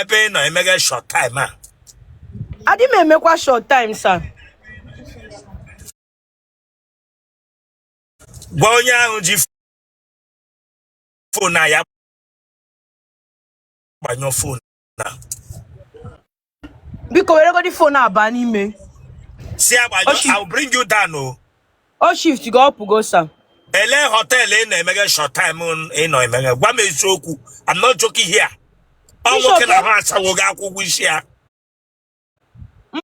ebe ị nọ emega short time a adị m emekwa short time sa gwa onye ahụ ji fon na ya gbanyụọ fon biko weregodi fon a baa n'ime see I'll bring you down o ọ shiftigo ọ pụgo sa elee họteelụ ị nọ emeghe short time ị nọ emeghe gwa m eziokwu I'm not joking here ọ nwoke na-ahụ ashawo ga akwụ ụgwọ isi ya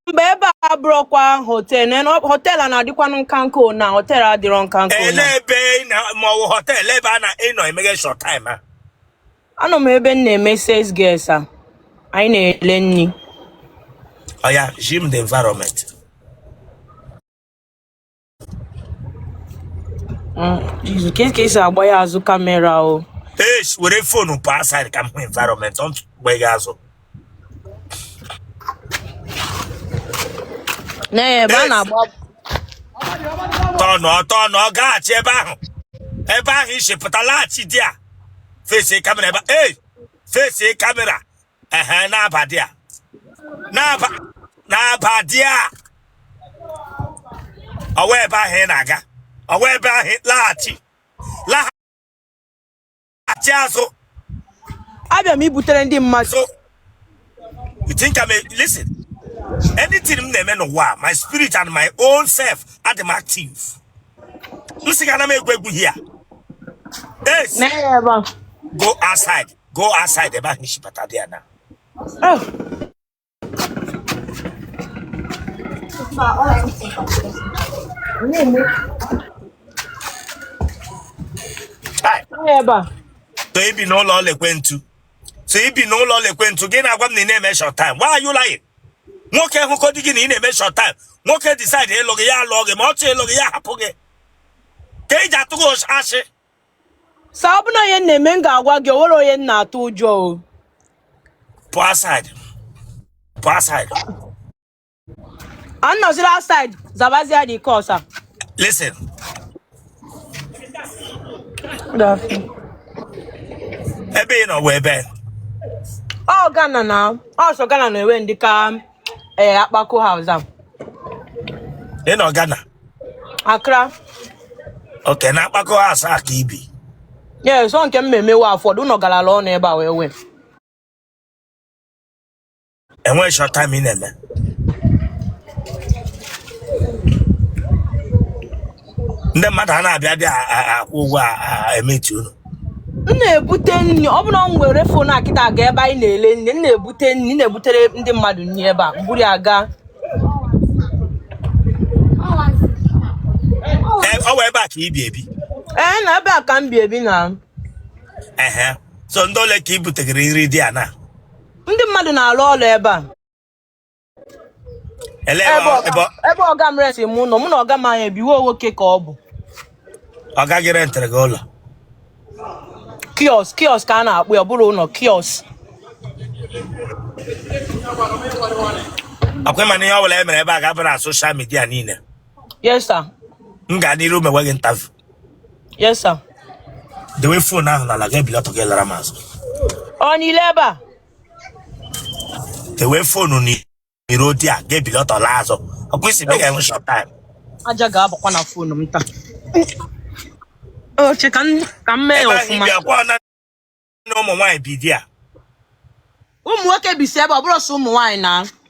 mba ebe a bụrụkwa họtel na na- họtel a na-adịkwanụ nka nka o na họtel adịrọ nka nka o na ele ebe ị na ma ọ bụ họtel ebe a na ị nọ emeghe short time a anọ m ebe m na-eme sales girl sa anyị na-ele nri ọya zi m the environment Mm, Jesus, ka ka esi agba ya azụ kamera o Yes, were fonu pụa outside ka m hụ environment ọ mgbe gị azụ na ya ebe a Eish, na-agba tọnụ tọnụ ọ gaghachi ebe ahụ ebe ahụ i si pụta laghachi there fesi kamera ebe a. ei fesi kamera ehe na-aba there na-aba na-aba there ọ wụ ebe ahụ ị na-aga ọ wụ ebe ahụ laghachi laghachi azụ abịa m ibutere ndị mmadụ so you think I'm a listen anything m na-eme n'ụwa a, my spirit and my own self adị m active m sị gị ana m egwu egwu here yes na ya ebe a go outside go outside ebe ahụ i si bata there now Oh. Chai, Onye ebe a. so i bi n'ụlọ ọla ekwentu so i bi n'ụlọ ọla ekwentu gị na-agwa m na ị na-eme short time why are you lying nwoke hụkọ di gị na ị na-eme short time nwoke decide ịlụ gị ya alụọ gị ma ọ chọọ ịlụ gị ya hapụ gị kee ihe i ji atụga ashị sa ọ bụrụ na ọ ihe m na-eme m ga-agwa gị o nwere onye m na-atụ ụjọ o pụọ outside pụọ outside anọzila outside zabazia the calls listen ebe ị nọ wụ ebee ọ Ghana now ọ sọ Ghana na-enwe ndị ka eh, Akpako House a. ị nọ Ghana Accra. okay na akpako house a ka i bi Yes, ọ nke m ma emewe afford ụnọ galala ọnụ ebe a well well. enweghị short time ị na-eme ndị mmadụ a na-abịa bịa akwụ ụgwọ emetụ unu m na-ebute nri ọ bụrụ m were phone akịta aga ebe anyị na-ele nri m na-ebute nri na-ebutere ndị mmadụ nri ebe a m buru ya gaa ọ wụ ebe a ka i bi ebi ee na ebe a ka m bi ebi na ehe so ndị ole ka i butegara nri there na ndị mmadụ na-alụ ọrụ ebe a Ele ebe ebe ọ- ọga- ebe- ebe ọga m resi m ụlọ mụ na ọga m anyị ebiwe nwoke ka ọ bụ ọga gị rentiri gị ụlọ kiosk kiosk ka a na-akpọ ya ọ bụrọ ụlọ kiosk ọ kwa ị ma na ihe ọ bụla e mere ebe a ga-abụ na social media niile yes sir m ga n'iru mewe gị interview yes sir dewe phone ahụ n'ala ga-ebili ọtọ gị lara m azụ ọ niile ebe a ewee phone n'iru there ga-ebili ọtọ la azụ ọ kwa ị sị ihe i mega wụ short time aja ga-abakwa na phone m taa oche ka m- ka m mee ya ebe ahụ ọfụma ibi akwa na ụmụ nwaanyị bi there ụmụ nwoke bisi ebe ọ bụrụ sọ ụmụ nwaanyị na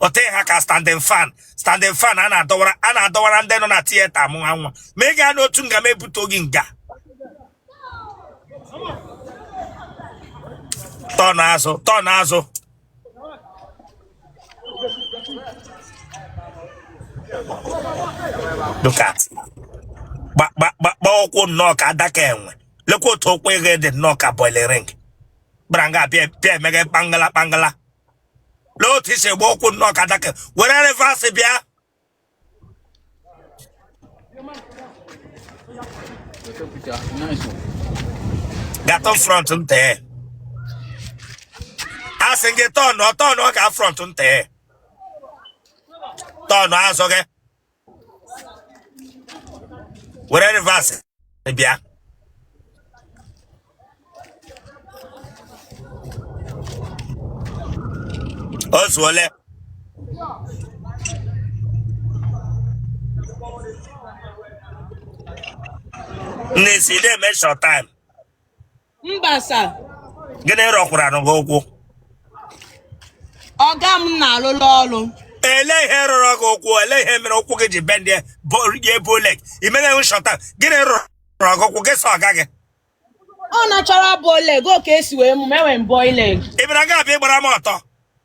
ote ha ka standing fan standing fan a na-adọwara a na-adọwara ndị nọ na theatre mụ ha nwa ma ị gaa n'otu nga m ebute gị nga turn azụ turn azụ look at gbakpakpakpa ụkwụ nnọọ ka adaka enwe lekwa otu ụkwụ gị dị nnọọ ka boiling ring gbara nga bịa bịa emega kpangala kpangala lee otu i si agba ụkwụ nnọọ ka adaka were reverse bịa gatụ front nte a sị gị turn ọ turn ọ ga front nte turn azụ gị were reverse bịa o zuole nne ị sị ị na-eme short time mba sir gịnị rọkwaranụ gị ụkwụ ọga m na-alụlụ ọrụ ele ihe rọrọ gị ụkwụ ele ihe mere ụkwụ gị ji bendie nwee bow leg i mere short time gịnị rọrọ gị ụkwụ gị sọ ọga gị ọ natural bow leg ọ ka e si wee mụ m enwe m bow leg ị bịara gị abịa ịgbara m ọtọ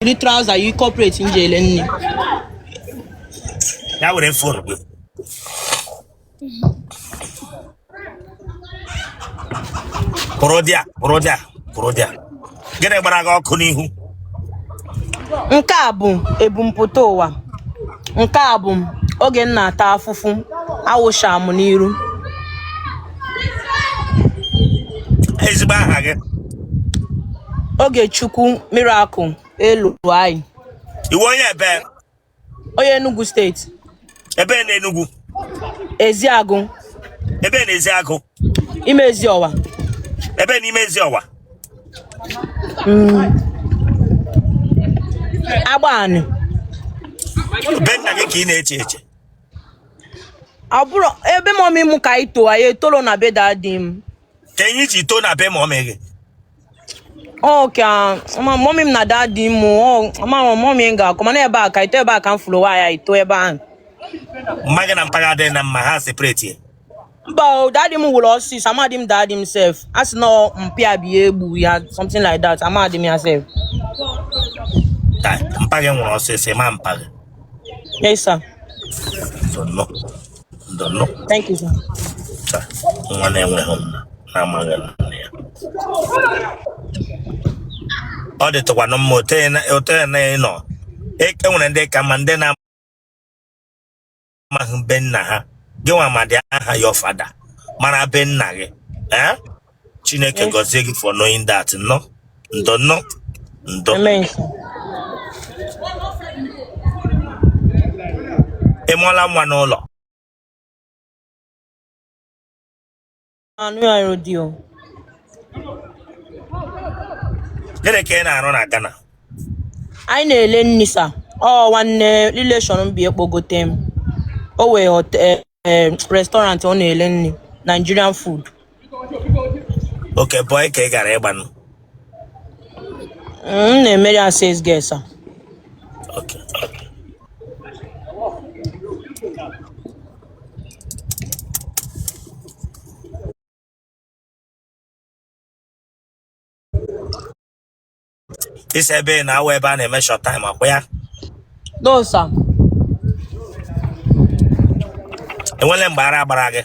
yiri traụza yi kọpret m ji ele nne ya were fon gị kwụrụ dị a kwụrụ dị a kwụrụ dị a gịnị gbara gị ọkụ n'ihu nke a bụ ebumpụta ụwa nke a bụ oge m na-ata afụfụ awụsha m n'iru ezigbo aha gị Ogechukwu Miracle Eluanyị ị wụ onye ebe onye Enugu steeti ebe na Enugu Ezeagụ ebe na Ezeagụ Imezi Ọwa ebe na Imezi Ọwa mm. Agbanị be nna gị ka ị na-eche eche abụrụ ebe mọmị m ka anyị too anyị etorọ na be dadi m kee ihe i ji too na be mọmị gị okay mọmị m na dadi m ọ mọmị m ga-akọ mana ebe a ka anyị too ebe a ka m fụrụ onwe anyị too ebe ahụ mma gị na mpa gị adịghị na mma ha separate ya mba o daddy m nwụrụ ọsịsọ amadị m daddy m sef a sị na ọ mpịa bi ya egbu ya something like that amadị m ya sef Chai, mpa gị nwụrụ ọsịsọ ị ma mpa gị yes sir ndo nụ ndo nụ thank you sir chai nwa na-enweghị nna na-amaghị nna ya ọ dịtụkwanụ mma otu ya na- otu ya na ị nọ E- e nwere ndị ka mma ndị na amaghị be nna ha gị nwa madị aha your father mara be nna gị ee chineke Yes. gọzie gị for knowing that nnọ ndo nnọ ndo Amen. sir. ị mụọla nwa n'ụlọ anụ ya rodi o gịnị ka ị na-arụ na Ghana anyị na-ele nni sa ọ nwanne rileshọn m bịa kpọgote m o nwee hotel eh, restaurant ọ na-ele nri Nigerian food okay bọị ka ị gara ịgba nụ M na-emeri as sales girl sa. Okay. Ị sị ebe ị nọ awụ ebe a na-eme shọt taim ọkwa ya No, sir. e nwele mgbe ara gbara gị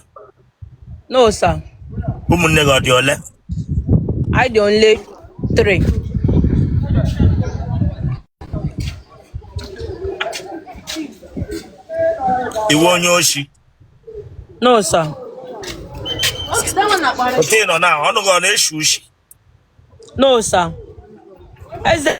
No, sir. Ụmụnne gị ọ dị ole? Anyị dị only three. Ị wụ onye oshi? No, sir. Oke nọ na ọnụ gị ọ na-eshi ushi? No, sir. Eze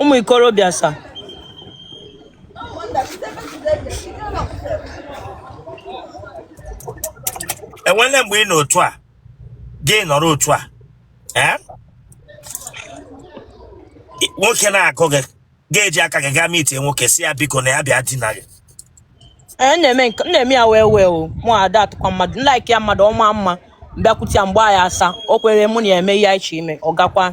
ụmụ ikorobịa sa enwele mgbe ị nọ otu a gị nọrọ otu a ee nwoke na-agụ gị ga-eji aka gị gaa meetie nwoke sị ya biko na ya bịa dina gị ee m na-eme nke m na-eme ya well well o mụ ada atụkwa mmadụ m like ya mmadụ ọ maa mma m bịakwute ya mgbe ya asa o kwere mụ na ya eme ihe anyị chọ ime ọ gakwa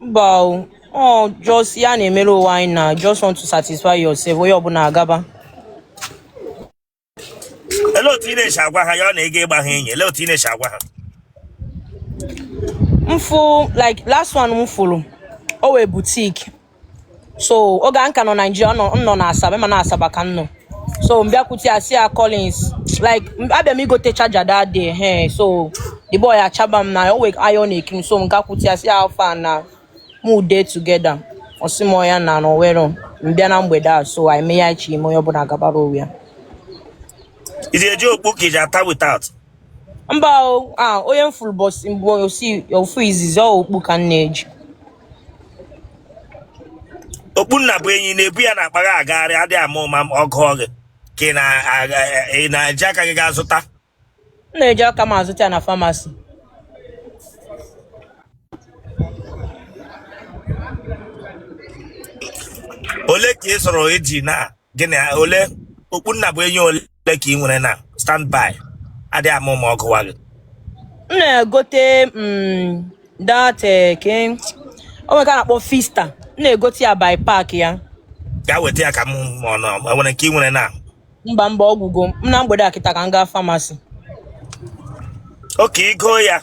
ba o, just ya na-emere onwe anyị na just want to satisfy yourself onye ọbụla agaba. Ele otu ị na-esi agwa ha ya ọ na-ege ịgba ha enyi ele otu ị na-esi agwa ha. M fụ like last one m fụrụ o nwe boutique so oge a m ka nọ naijiria ọ nọ na asaba ma na asaba ka m nọ so m bịakwute ya sị ya collins like abịa m igote charger that day hey so the boy achaba m na o wee iron ekim so m gakwute ya sị ya how far na mu dey together ọ sị m oya na na o nwero m bịa na mgbede a so anyị mee ihe anyị chọ ime onye ọbụla gabara onwe ya Ị na-eji okpu? Is it without? mba a onye m fụrụ ụbọsị mbụ osi ofu izizi ọ okpu ka m na-eji okpu nna bụ enyi ị na-ebu ya na akpa gị agagharị adịghị ama ụma ma ọ gụ gị ka ị na- aga- ị na-eji aka gị gaa zụta m na-eji aka m azụta ya na pharmacy ole ka ị sọrọ eji na gịnị ole okpu nna bụ enyi ole ka ị nwere na standby adịghị ama ụma ọ gụwa gị m na-egote mm, that eh, ke o nwere ka a na-akpọ fiesta m na-egote ya by pack ya gaa weta ya ka m ma ma o nwere nke ị nwere na mba mba ọ gwụgo mana mgbede a kịta ka m gaa pharmacy okay igo ya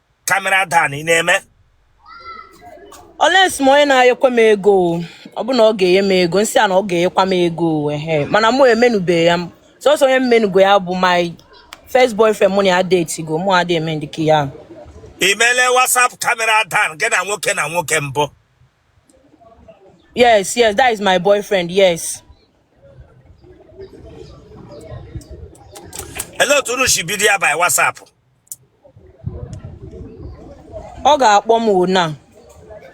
camera down ị na-eme unless ma onye na-enyekwa m ego ọ bụ na ọ ga-enye m ego m sị ya na ọ ga-enyekwa m ego ehe mana mụ emenubeghị ya sọsọ onye m menugo ya bụ my first boyfriend mụ na ya datego mụ adị eme ndịka ya i mele whatsapp camera down gị na nwoke na nwoke mbụ yes yes that is my boyfriend yes ele otu unu si bido ya by whatsapp ọ ga-akpọ m ona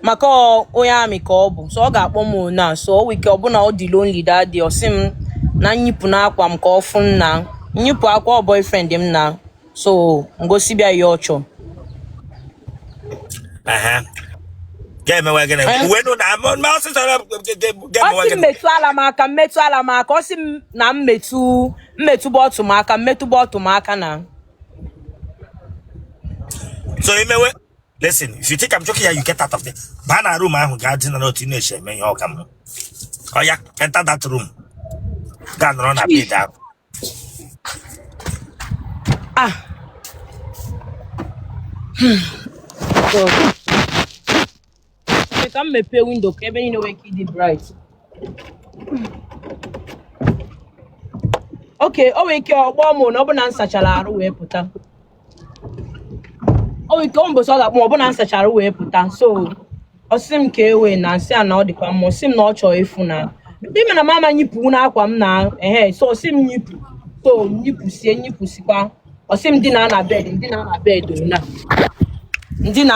maka onye army ka ọ bụ so ọ ga-akpọ m ona so week ọbụna ọ dị lonely that day ọ sị m na m yipụ akwa m ka ọ fụ na m yipụ akwa ọ boyfriend m na so m gosibe ya ọ chọ ga-emewe gịnị eh? uwe nụ na ọsịsọ ga-emewe gịnị m metụ ala m aka m metụ ala m aka ọ sị m na m metụ m metụba ọtụ m aka m metụba ọtụ m aka na so imewe listen if you think I'm joking here you get out of there baa na room ahụ gaa dina n'otu ị na-eche eme ihe ọka m oya enter that room gaa nọrọ na bed ahụ ah hmm. Ee, ka m mepee window ka ebe niile nwee ike ịdị bright okay o nwere ike ọ kpọọ mụ na ọ bụ na m sachara arụ wee pụta o nwere ike ọ mbọsị ọ ga-akpọ m ọ bụ na m sachara arụ wee pụta so ọ sị m kee way na m sị ya na ọ dịkwa mma ọ sị m na ọ chọọ ịfụ na ị ma na m ama nyipụ n'akwa m na ehe so ọ sị m nyipụ so m yipụsịa m yipụsịkwa ọ sị m dina na bed m dina na bed na m dina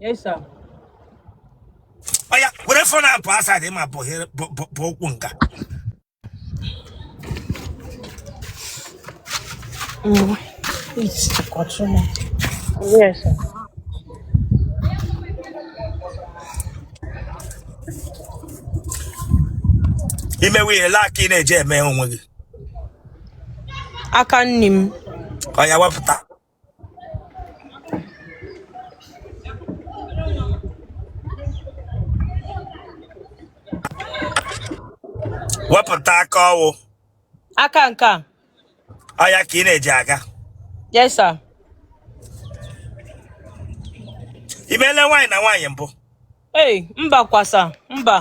Yes, sir. Oya, were phone up outside him up here, Bokunga. Mm, it's the consumer. Yes, sir. i mewe ihe like ka ị na-eji eme onwe gị aka nne m oya wepụta wepụta aka ọ wụ aka nke a ọ ya ka ị na-eji aga yes sir ị meele nwaanyị na nwaanyị mbụ ee mba kwa sir mba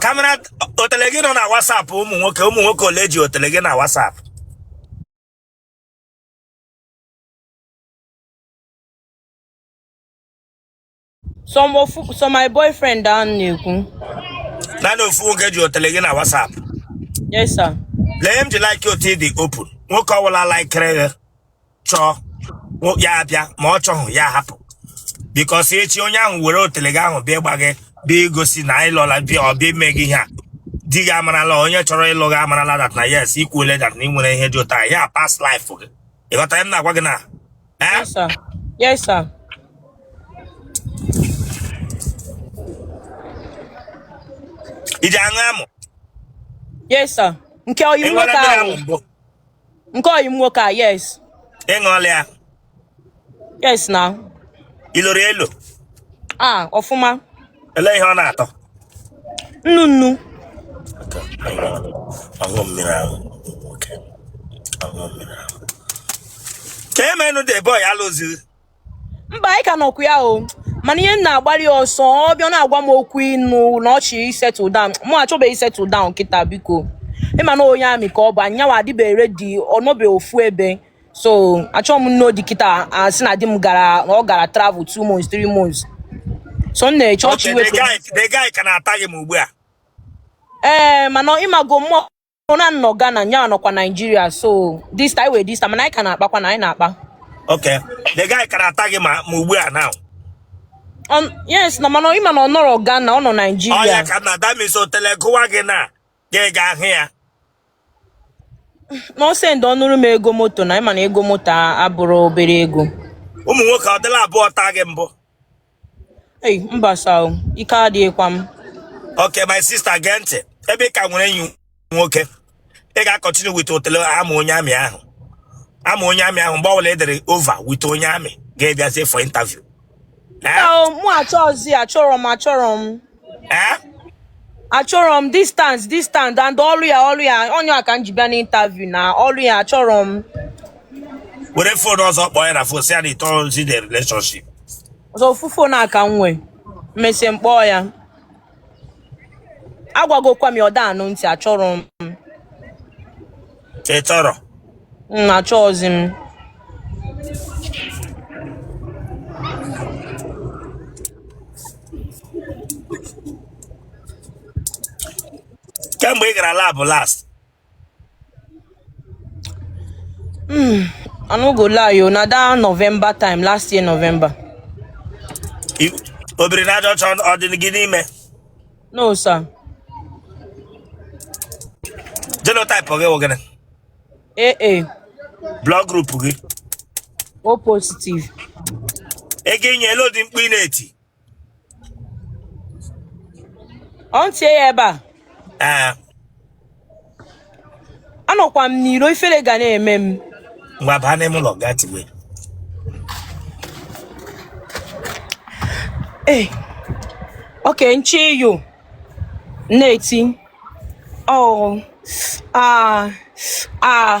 camera otele gị nọ na WhatsApp ụmụ nwoke ụmụ nwoke ole ji otele gị na WhatsApp sọọsọ my boyfriend ahụ m na-ekwu naanị ofu nwoke ji otele gị na WhatsApp yes sir lee m ji like otu ị dị open nwoke ọ wụla likere gị chọọ ya abịa ma ọ chọghị ya hapụ because echi onye ahụ were otele gị ahụ bịa gba gị bịa gosi na anyị lọla bịa ọ bịa ime gị ihe a di gị amarala onye chọrọ ịlụ gị amarala that na yes i kwuole that na ị nwere ihe dị otu a na past life gị ị ghọta ihe m na-agwa gị na eh? yes sir yes sir i ji aṅụ amụ yes sir nke ọyị nwoke ahụ nke ọyị m nwoke a yes ị ṅụọla ya yes na i loro elo ah ọfụma ele ihe ọ na-atọ nnu nnu ọṅụ mmiri ahụ okay ọṅụ mmiri ahụ ka e menụ the boy alụzi mba anyị ka nọkwa ya o mana ihe m na-agbalị ọsọ ọ bịa na-agwa m okwu ịnụ na ọ chọ ịsettle down mụ achọbeghị settle down kịta biko ị ma na onye army ka ọ bụ nya nwa adịbeghị ready ọ nọbe ofu ebe so achọghị m ịnụ di kịta a sị na di m gara na ọ gara travel two months three months so m na-eche ọchị Okay, the iwepụ guy, the guy ka na-ata gị ma ugbu a. ee mana ị mago mụwa na-anọ Ghana nya nọkwa Naijiria so distance mana anyị ka na-akpakwa na anyị na-akpa okay the guy ka na-ata gị ma ugbu a now yes na mana ị ma na ọ nọrọ Ghana ọ nọ Naijiria ọya ka na that means otele gụwa gị na ị ga-ahụ ya na ọ send ọnụrụ m ego moto na ị ma na ego moto abụrọ obere ego ụmụ nwoke ọ dịla abụọ taa gị mbụ Ei, mba sir o, ike adịghịkwa m. Okay, my sister gee ntị ebe ị ka nwere enyi nwoke ị ga-acontinue with otele amụ onye army ahụ amụ onye army ahụ mgbe ọbụla ị dịrị over with onye army ị ga-abịazie for interview Ee? Sir o, mụ achọzi achọrọ m achọrọ m. Eh? achọrọ m distance distance and ọrụ ya ọrụ ya ọ ya ka m ji bịa n'interview na ọrụ ya achọrọ m were fon ọzọ kpọọ ya na fon sị ya na ị chọrọzi the relationship ọ sọ ofu fon a ka m nwee m mesịa m kpọọ ya agwagokwa m ya ọ da-anụ ntị achọrọ m ị chọrọ achọghịzi m kemgbe ị gara lab last I no go lie o na that November time last year November. i- obiri n'aja ọcha ọ dị gị n'ime No, sir. Genotype gị wụ gịnị? AA. Blood group gị? O positive. Ego inye ele ụdị mkpu ị na-eti? Ọ m tie ya ebe a. Ee. anọkwa m n'iro ifere ga na-eme m ngwa baa n'ime ụlọ gaa tiwe ee eh, okay nche yo na-eti oh ah ah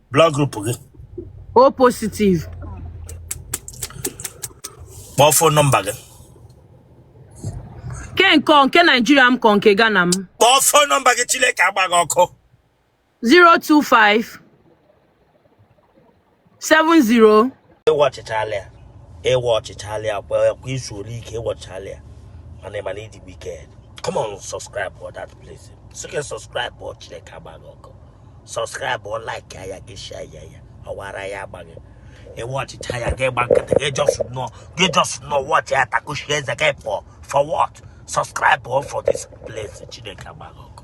blood group gị o positive kpọọ fon nọmba gị ke nke ọ- nke naijiria m ka ọ nke ghana m kpọọ fon nọmba gị chineke agbaa gị ọkụ 025 70 ị watchchaala ya ị watchchaala ya ka i zuru ike ị watchchaala ya mana ị ma na ị dị wicked come on subscribe for that place sike subscribe ọ chineke agba gị ọkụ subscribe ọ like ya ya gị share ya ya ọwara ya agba gị ị watchchaa ya gị gba nkịtị gị just nọ gị just nọ watch ya takushi eze gị for for what subscribe for this place chineke agba gị ọkụ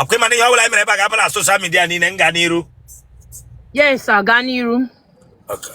ọkwa ị ma na ihe ọ bụla anyị mere ebe a ga-aba na social media niile m gaa n'iru yes sir gaa n'iru Okay.